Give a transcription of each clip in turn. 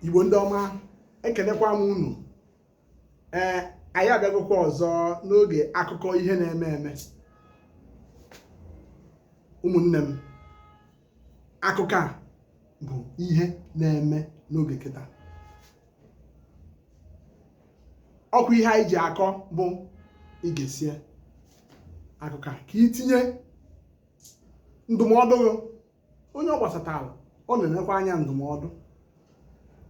igbo ndị ọma ekelekwa m unu ee anyị abịagokwa ọzọ n'oge akụkọ ihe na-eme eme ụmụnne m akụkọ a bụ ihe na-eme n'oge kịta ọkwa ihe anyị ji akọ bụ i gesie akụkọ a ka i tinye ndụmọdụ onye ọ gbasatara ọ na-enekwa anya ndụmọdụ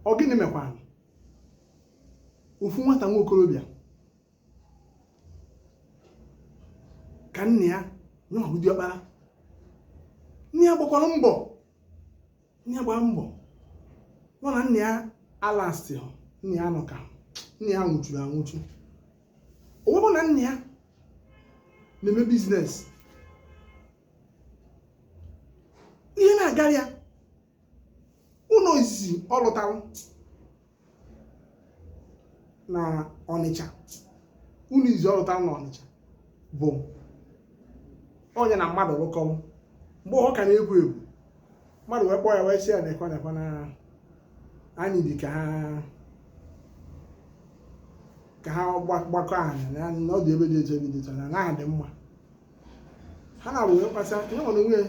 ọ gịnị mekwara ofu nwata nwa okorobịa ka nna ya nya bụ diọkpara nna ya gbakwara mbọ nna ya gbara mbọ nọ na nna ya alasti nna ya nọ ka nna ya nwụchuru anwụchu o wee bụ na nna ya na-eme business ihe na-agara ya ụnọ izizi ọ lụtara na ọnịcha ụnọ izizi ọ lụtara na ọnịcha bụ ọ nya na mmadụ lụkọ mgbe ọ ka na-ewu ewu mmadụ wee kpọọ ya wee sị ya na ekwe na ekwe na anị dị ka ha ka ha gba- gbakọ anyị na na ọ dị ebe dị iche dị iche na ana ahụ dị mma ha naabọ wee kpasịa nyanwa onwe ya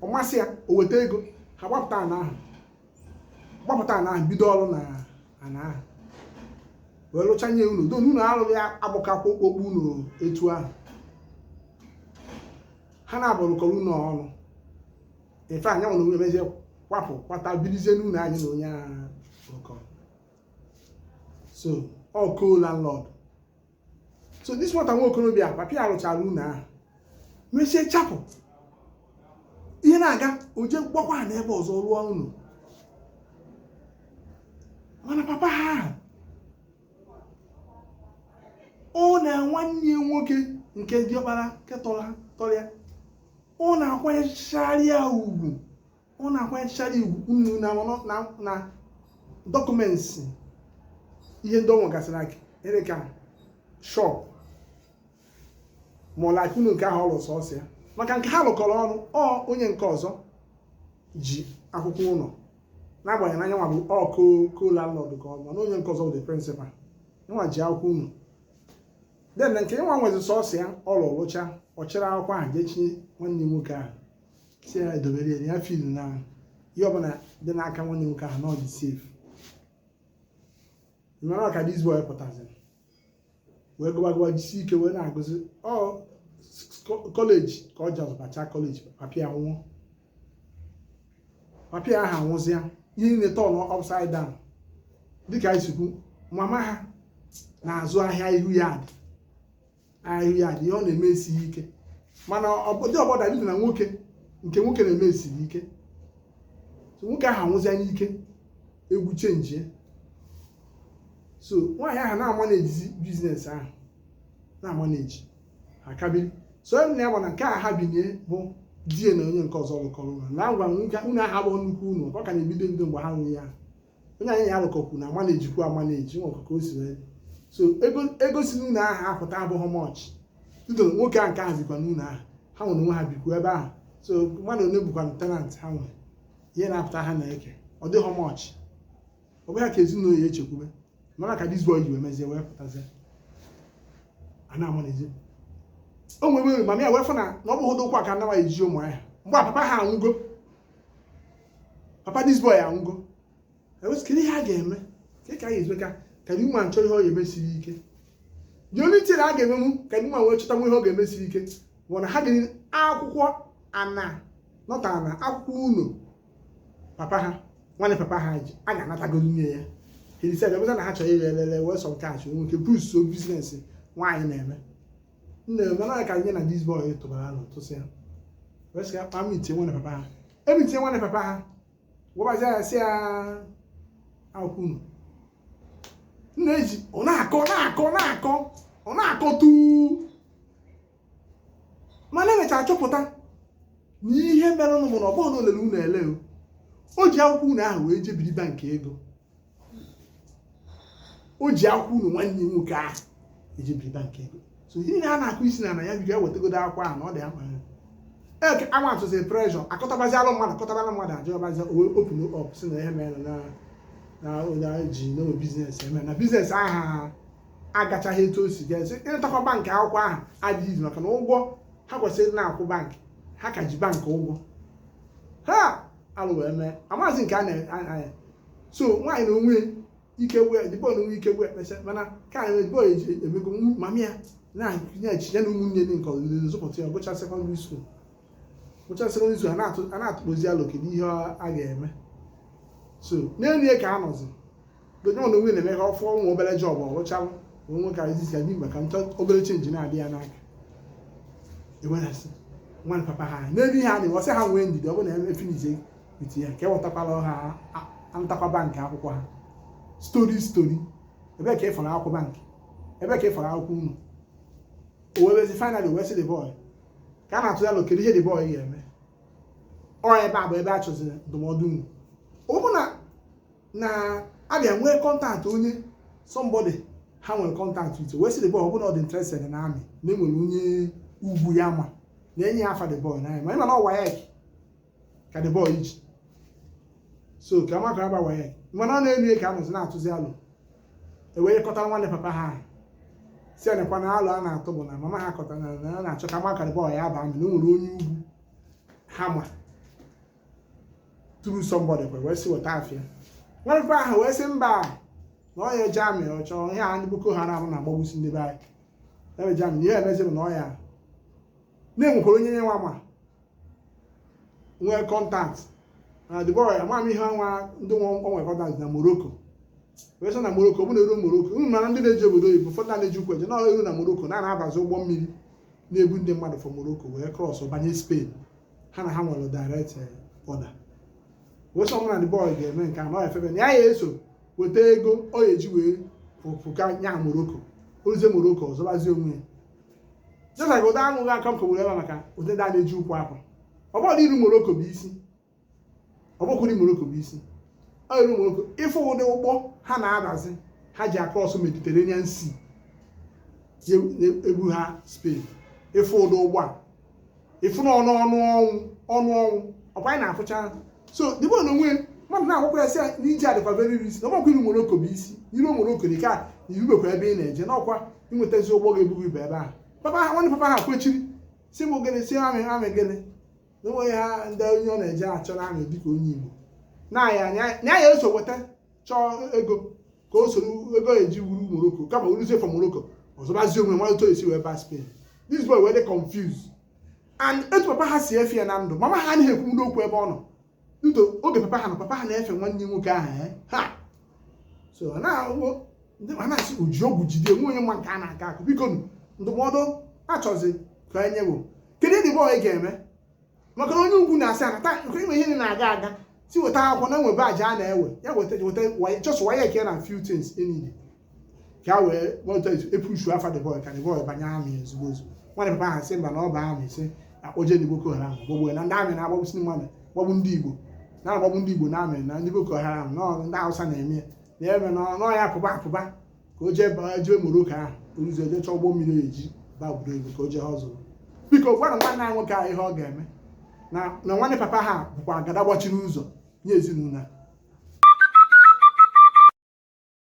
ọ masị ya o weta ego ha gota ana ahụ gbapụta ana ahụ bido ọrụ na ana ahụ wee rụcha nye ụnọ don ụnọ ha lụlụ abụkwa okpokpo ụnọ etu ahụ ha naabọ rụkọrọ ụnọ ọnụ in fact nyanwa onwe ya mezie kwapụ kwata birizie n'ụnọ a nya na onye ahụ rụkọrọ so ọ co-landlord so this nwata nwa okorobịa papa ya lụchara ụnọ ahụ mesie chapụ ihe na-aga o jee gbakwa ana ebe ọzọ rụọ ụnọ mana papa ha ahụ ọ na nwanne ya nwoke nke diọkpara nke tọrọ ya ọ na-akwanyechara ya ugwu ọ na-akwanyechara ugwu ụnọ na document ihe ndị ọ nwegasịrị aka ere ka shop ma ọ lakụ ụnọ nke ahụ ọ lụ sọsọ ya maka nke ha lụkọrọ ọnụ ọ onye nke ọzọ ji akwụkwọ ụnọ n'agbanyeghị na nyanwa bụ ọkwa co-landlord ka ọ bụ na onye nke ọzọ bụ the principal nya ji akwụkwọ ụnọ then nke nyanwa nwezi sọsọ ya ọ lụcha ọ chịrị akwụkwọ ahụ jee chinye nwanne nwoke ahụ si ya edobere ya na ya filu na ihe ọbụla dị n'aka nwanne nwoke ahụ na ọ dị safe mana ka this boy pụtaziri wee gụba gụba jisi ike wee na-agụzi ọ kọleji ka ọ ji abacha kọleji papa ya nwụọ papa ya ahụ anwụzịa ihe niile turn upside down dịka anyị si kwu mama ha na-azụ ahịa ihu ya dị ahịa dị ọ na-eme esighị ike mana ọbụdị ọbọda dị na nwoke nke nwoke na-eme siri ike nwoke ahụ anwụzịa n'ike egwu chenjie so nwaanyị ahụ na-amanejizi biznes ahụ na-amaneji akabi so onye na ya gbana nke a ha binye bụ di ya na onye nke ọzọ lụkọrọ ụlọ na agwa nwoke ụnọ ahụ bụ nnukwu ụnọ ọ ka na-ebido ebido mgbe ha nwunye ya onye anyị alụkọkwu na-amanejikwu amaneji nwa ọkụkọ o si wee so ego si n'ụlọ ahụ apụta abụghị much tito nwoke a nke ahụ bikwa n'ụlọ ahụ ha nwere onwe ha bikwu ebe ahụ so mmadụ one bụkwa tenant ha nwere ihe na-apụta ha na-eke ọ dịghị much ọ bụghị ka ezinụlọ ya echekwube mana ka this boy ji wee mezie wee pụtazie a na-amaneji o nwere mama ya wee fụ na na ọ bụghị ụkwụ a ka nama eje ụmụahịa mgbe papa ha anwụgo papa this boy anwụgo kedu ihe a ga-eme ka ka a ga-esi eme ka the woman chọ ihe ọ ga-eme siri ike the only thing a ga-emenwu ka the woman wee chọtanwu ihe ọ ga-eme siri ike bụ na ha dị akwụkwọ ana nọta na akwụkwọ ụlọ papa ha nwanne papa ha ji a ga-anatago nye ya hedise ga-emeta na ha chọrọ ire elele wee sọ nke a chọ nwee ike boostụọ biznes nwaanyị na-eme nne mana ka ya na this boy tụbara alo tụsịa wee sị ya ka ha mitie nwanne papa ha emitie nwanne papa ha gwabazi ya sị ya akwụkwọ ụnọ nna eji ọ na-akọ na-akọ na-akọ ọ na-akọ tuu mana e mechara chọpụta na ihe merenụ bụ na ọ bụghị na o lele ụnọ ele o ji akwụkwọ ụnọ ahụ wee jee biri bank ego o ji akwụkwọ ụnọ nwanne nwoke ahụ jee biri bank ego so ihe niile a na-akọ sị na na ya bido ya wetagodo akwụkwọ ahụ na ọ dị akpa ya eke a mountụzie pressure akpọtabazi alụ mmadụ akpọtabala mmadụ ajụ ọ bịazi open up sị na ihe mere na na ụda ji no biznes eme na biznes ahụ agachaghị etu o si ga-esi ịntakwa bankị akwụkwọ ahụ adịghịzi maka na ụgwọ ha kwesịrị na-akwụ bankị ha ka ji bankị ụgwọ ha alụ wee mee amaghịzi nke a na-anya so nwaanyị na onwe ike wee the boy na onwe ike wee kpesa mana ka anyị the boy emego mama ya na-achị ya na ụmụnne ndị nke ọzọ zụpụta ya gụcha sekọndịrị skuul gụcha sekọndịrị skuul a na-atụkọzi alo kedu ihe a ga-eme so n'elu ya ka a nọzi the boy na onwe na-eme ka ọ fụọ ụmụ obere job ọ rụchaa wee nwe ka izizi ya mgbe ka nchọ obere change na-adị ya n'aka ewedasị nwanne papa ha n'ebe ihe a na ọ sị ha nwee ndidi ọ bụrụ na eme finizie iti ya ka ewetakwala ha antakwa bank akwụkwọ ha story story ebee ka ị fụrụ akwụkwọ bank ebee ka ị fụrụ akwụkwọ ụnọ o wee bezi finally wee sị the boy ka a na-atụ ya alo kedu ihe the boy ga-eme ọ ebe a bụ ebe a chọziri ndụmọdụ unu ọ bụ na na a bịa nwee contact onye somebody ha nwere contact ite wee sị the boy ọ bụrụ na ọ dị interested na army na e nwere onye ugwu ya ma na enye ya afa the boy na ya ma ị ma na ọ WAEC ka the boy ji so ka amakara ba wa ya mana ọ na-elu ka a nọzi na-atụzi alo e wee kọtara nwanne papa ha ahụ sị ya nekwa na alo a na-atụ bụ na mama ha kọtara na a na-achọ ka amakara ba wa ya ba army na o nwere onye ugwu ha ma through somebody e wee sị weta afa nwanne papa ahụ wee sị mba na ọ ya eje army ọ chọọ ihe a ndị boko haram na-agbagbusi ndị be anyị ebe eje army ihe e mezie bụ na ọ ya na-enwekwara onye nye nwa ma nwee contact na the boy ama m ihe nwa ndị nwa o nwere contact na morocco wee sị na morocco bụ na eru morocco unu mara ndị na-eje obodo oyibo ụfọdụ na-eji ụkwụ eje na eru na morocco na-abazi ụgbọ mmiri na-ebu ndị mmadụ from morocco wee cross banye spain ha na ha nwere direct eh, border wee sị ọ bụ na the boy ga-eme nke a na ọ ya efebe na ya ya eso weta ego ọ ya eji wee pụka nya morocco o ruzie morocco ọ zọbazie onwe ya jesa ka ụda anwụghị aka mkọ were ebe maka ụdị ndị a na-eji ụkwụ apụ ọ bụrụ na iru morocco bụ isi ọ bụkwa iru morocco bụ isi ọ i ru morocco ị fụ ụdị ụgbọ ha na-abazi ha ji across mediterranean sea na-ebu ha spain ị fụ ụdị ụgbọ a ị fụ na ọnụ ọnụ ọnwụ ọnụ ọnwụ ọkwa anyị na-afụcha so the boy na onwe mmadụ na-agwakwa ya sị ya na ije a dịkwa very risky na ọ bụkwa iru morocco bụ isi i ru morocco dị ka i rubekwa ebe ị na-eje n'ọkwa inwetazi ụgbọ ga-ebugo ibe ebe ahụ papa ha nwanne papa ha kwechiri si m ogene si army army gịnị na o nweghị ha ndị onye ọ na-eje achọ na army dịka onye igbo na ya nwa ya ya eso weta chọọ ego ka o soro ego eji eru morocco kama o ruzie from morocco ọ zọbazie onwe malụ otu esi wee baa spain this boy wee dị confused and etu papa ha si efe ya na ndụ mama ha anaghị ekwu n'okwu ebe ọ nọ due to oge papa ha na papa ha na-efe nwanne nwoke ahụ eh, ha so a na-asị o ji ọgwụ jide nwe onye ma nke a na-aga akụ biko ndụmọdụ a chọzi ka e nye bụ kedu ihe the boy ga-eme maka na onye ugwu na-asị ana taa nke ime ihe niile na-aga aga si weta akwụkwọ na e nwe batch a na-ewe ya weta weta WAE- just WAEC ya na few things enyi ka wee weta e push afa the boy ka the boy banye army ozugbo ozugbo nwanne papa ha sị mba na ọ bụ army sị akpọje ndị boko haram gbogbo na ndị army na-agbagbusi mmadụ gbagbu ndị igbo na-agbagbu ndị igbo na army na ndị boko haram na ọ- ndị hausa na-eme ya na-eme na ọ- na ọ ya pụba pụba ka o jee baa jee Morocco ahụ o ruzie o jee chọọ ụgbọ mmiri e ji baa obodo oyibo ka o jee hustle biko gwara nwanne anyị nwoke a ihe ọ ga-eme na na nwanne papa ha bụkwa agada gbachiri ụzọ nye ezinụlọ a